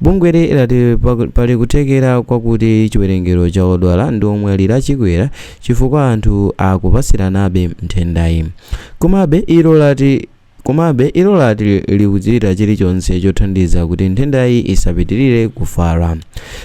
Bungweli lati pali kuthekera kwakuti chiwerengero cha odwala ndi omwalira chikwera chifukwa anthu akupatsiranabe nthendayi. Komabe, ilo lati Komabe, ilo lati likuchita chilichonse chothandiza kuti nthendayi isapitirire kufala.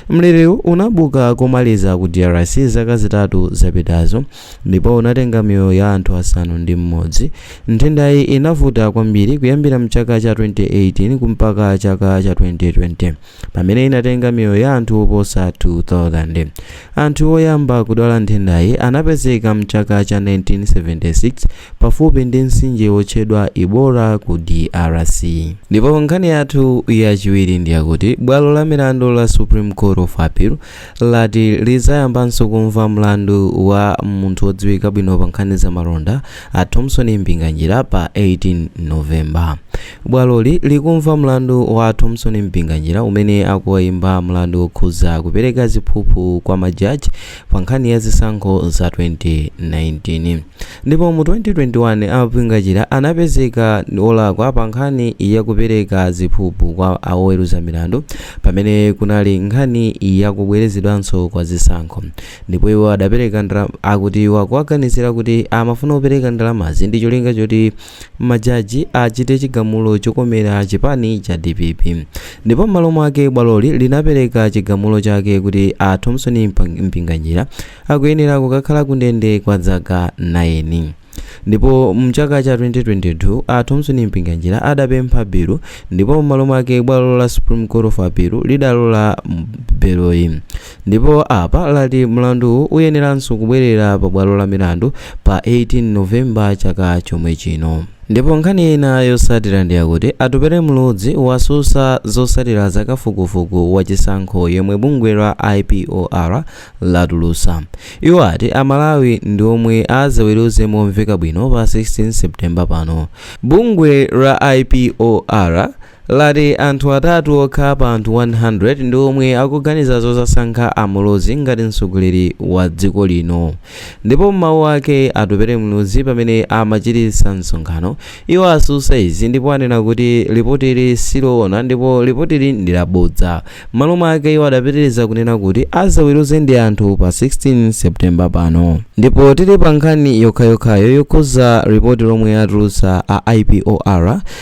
Mliriwu unabuka komaliza ku DRC zaka zitatu zapitazo ndipo unatenga miyoyo ya anthu asanu ndi mmodzi. Nthendayi inavuta kwambiri kuyambira mchaka cha 2018 kumpaka chaka cha 2020 pamene inatenga miyoyo ya anthu oposa 2000. Anthu oyamba kudwala nthendayi anapezeka mchaka cha 1976 pafupi ndi mtsinje wotchedwa Ebola ku DRC. Ndipo nkhani yathu yachiwiri ndi yakuti bwalo la milandu la Supreme Court of Appeal lati lidzayambanso kumva mlandu wa munthu wodziwika bwino pa nkhani za malonda a Thomson Mpinganjira pa 18 November. Bwaloli likumva mlandu wa Thomson Mpinganjira umene akuwaimba mlandu wokhuza kupereka ziphuphu kwa majaji pa nkhani ya zisankho za 2019. Ndipo mu 2021, a Mpinganjira anapezeka olakwa pa nkhani ya kupereka ziphuphu kwa a oweruza milandu pamene kunali nkhani ya kubwerezedwanso kwa zisankho. Ndipo iwo adapereka, akuti iwo akuwaganizira kuti amafuna kupereka ndalamazi ndi cholinga choti majaji achite chigamulo chokomera chipani cha dpp ndipo m'malo mwake bwaloli linapereka chigamulo chake kuti a thomson mpinganjira akuyenera kukakhala kundende kwa zaka 9 ndipo mchaka cha 2022 a thomson mpinganjira adapempha belo ndipo m'malo mwake bwalo la supreme court of appeal lidalola beloyi Ndipo apa lati mlanduwu uyeneranso kubwerera pa bwalo la milandu pa 18 November chaka chomwe chino. Ndipo nkhani ina yosatira ndiyakuti Atupele Muluzi wasusa zosatira za kafukufuku wa chisankho yemwe bungwe la IPOR latulusa. Iwo ati a Malawi ndi omwe azaweruze momveka bwino pa 16 September pano. Bungwe la IPOR. lati anthu atatu okha pa anthu 100 ndi omwe akuganiza zozasankha a Muluzi ngati mtsogoleri wa dziko lino. Ndipo m'mawu ake, Atupele Muluzi pamene amachititsa msonkhano, iwo asusa izi ndipo anena kuti lipotili siloona ndipo lipotili ndi labodza. M'malo mwake iwo adapitiliza kunena kuti azaweruze ndi anthu pa 16 September pano. Ndipo tili pa nkhani yokhayokhayo yokhuza lipoti lomwe atulutsa a IPOR,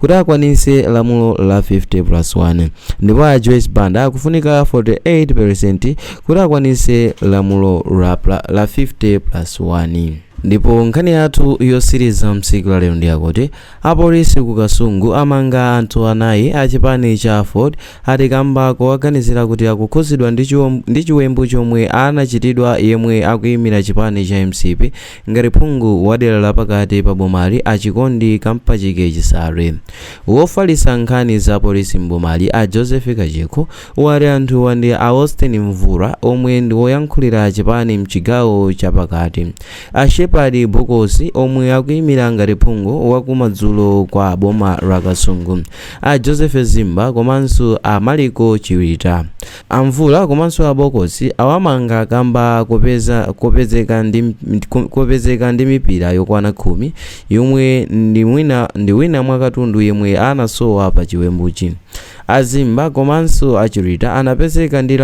kuti akwanise lamulo la 50 plus 1 ndipo a joyce banda akufunika 48 peresenti kuti akwanise lamulo la 50 plus 1 ndipo nkhani yathu yosiriza msiku la lero ndiyakuti apolisi ku kasungu amanga anthu anayi a chipani cha aford ati kamba kowaganizira kuti akukhudzidwa ndi chiwembu chomwe anachitidwa yemwe akuyimira chipani cha mcp Ngati phungu wa dera la pakati pa bomali a Chikondi Kampachike Chisale, wofalitsa nkhani za polisi m'bomali a Joseph Kachikho wati anthuwa ndi a Austin Mvula omwe ndi woyankhulira chipani mchigawo cha pakati, a Shepherd Bokosi omwe akuimira ngati phungu wa ku madzulo kwa boma la Kasungu, a Joseph Zimba komanso a Maliko Chiwita. A Mvula komanso a Bokosi awamanga kamba kopezeka ndi mipira yokwana khumi yomwe ndi wina mwa katundu yemwe anasowa pa chiwembuchi. A Zimba komanso a Chirita anapezeka ndi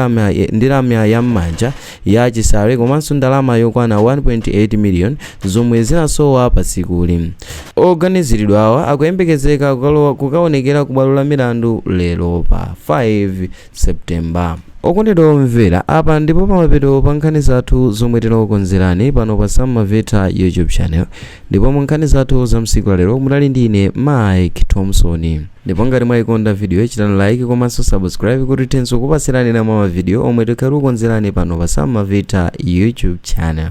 lamya ya m'manja ya Chisale komanso ndalama yokwana 1.8 million zomwe zinasowa pa tsikuli. Oganiziridwawa akuyembekezeka kukaonekera ku bwalo la milandu lero pa 5 September. Okondedwa omvera, apa ndipo pamapeto pa nkhani zathu zomwe tinakukonzerani pano pa Sam Maveta YouTube Channel ndipo mu nkhani zathu za msiku la lero munali ndi ine Mike Thompson. Ndipo ngati mwayikonda video chitani like komanso subscribe kuti tithenso kupatsirani ena mwa mavidiyo omwe tikhala tikukonzerani pano pa Sam Maveta YouTube Channel.